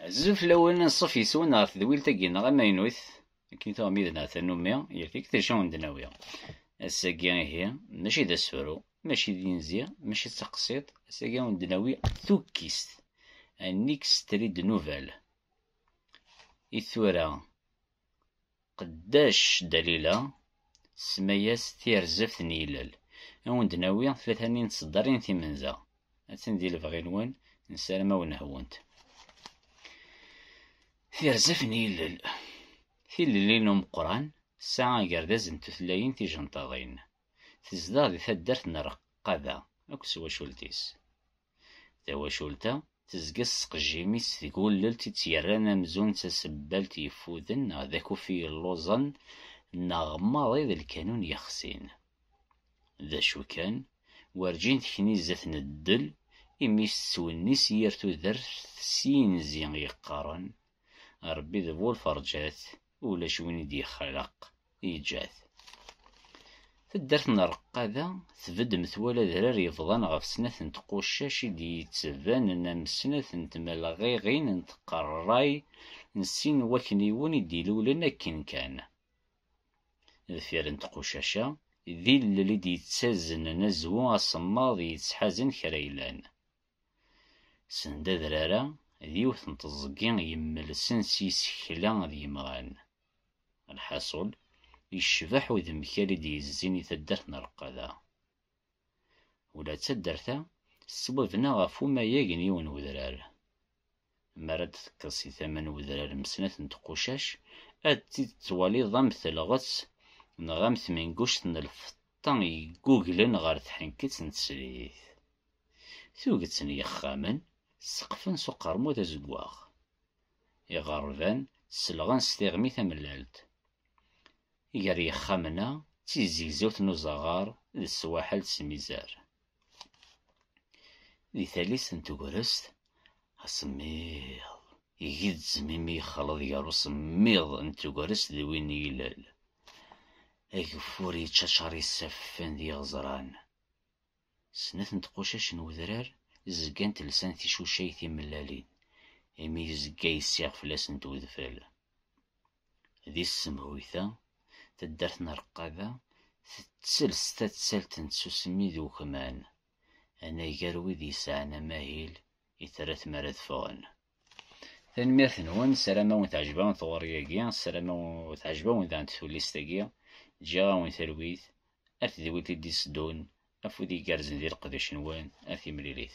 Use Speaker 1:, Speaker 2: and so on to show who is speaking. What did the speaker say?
Speaker 1: Azul fell-awen, anṣuf yes-wen ɣer tedwilt-agi neɣ amaynut, akken i tuɣ mid neɣ tanumi, yal tikta acu n d-nawi. Ass-agi ihi, mačči d asefru, mačči d inzi, mačči d taqsiḍt, ass-agi n d-nawi tukkist, un extrait de nouvelle. I tura, Tqeddac Dalila, tsemma-yas Tirzebt n Yilel. A wen-d-nawi tlata-nni n tseddarin timenza. Attan di lebɣi-nwen, nessaram a wen-hwunt. Tirzebt n Yilel. Tilelli n umeqqran tesɛa agerdaz n tutlayin tijenṭaḍin. Tezdeɣ di taddart n Reqqada akked twacult-is. Tawacult-a tezga s ttqejjim-is deg ullelt i tt-yerran amzun d tasebbalt yeffuden neɣ d akufi yelluẓen neɣ maḍi d lkanun yexsin. D acu kan, werǧin tekni zdat n ddel, imi tettwennis yir tudert s yinzi yeqqaren, Rebbi d bu lferǧat, Ulac win i d-yexraq, yeǧǧa-t. Taddart n Reqqada tbedd metwal adrar yebḍan ɣef snat n tqucac i d-yettbanen am snat n tmelɣiɣin n tqerray n sin n wakniwen i d-ilulen akken kan. Deffir n tqucac-a, d ilel i d-yettaznen azwu asemmaḍ yettḥazen kra yellan. Send adrar-a, d yiwet n teẓgi yemmelsen s yisekla d yimɣan. Lḥaṣul, yecbeḥ udemkal i d-yezzin i taddart n Reqqada. Ula d taddart-a tettwabna ɣef umayeg n yiwen n udrar. Mi ara d-tekkeḍ si tama n wedrar n snat n tqucac, ad t-id-twaliḍ am telɣet neɣ am tmenguct n lfeṭṭa yegguglen ɣer tḥenkett n teslit. Tuget n yexxamen seqfen s uqermud azeggaɣ. Iɣerban selɣen s tiɣmi tamellalt. Gar yexxamen-a d tizegzewt n uzaɣar d swaḥel d smizar. Di tallit n tegrest, asemmiḍ igezzem imi yexleḍ gar usemmiḍ n tegrest d win n yilel. Ageffur yettaččar isaffen d yiɣezran. Snat n tqucac n wedrar zgant lsant ticucay timellalin, imi yezga yessiɣ fell-asent wedfel. Di tsemhuyt-a, taddart n Reqqaba tettels tattalt n tsusmi d ukman, anagar wid yesɛan amahil i terra tmara ad ffɣen. Tanemmirt-nwen, ssarameɣ teɛjeb-awen tɣuri-agi, ssarameɣ teɛjeb-awen daɣen tullist-agi, ǧǧiɣ-awen talwit, a tedwilt i d-itteddun, afud igerrzen di leqdic-nwen, a timlilit.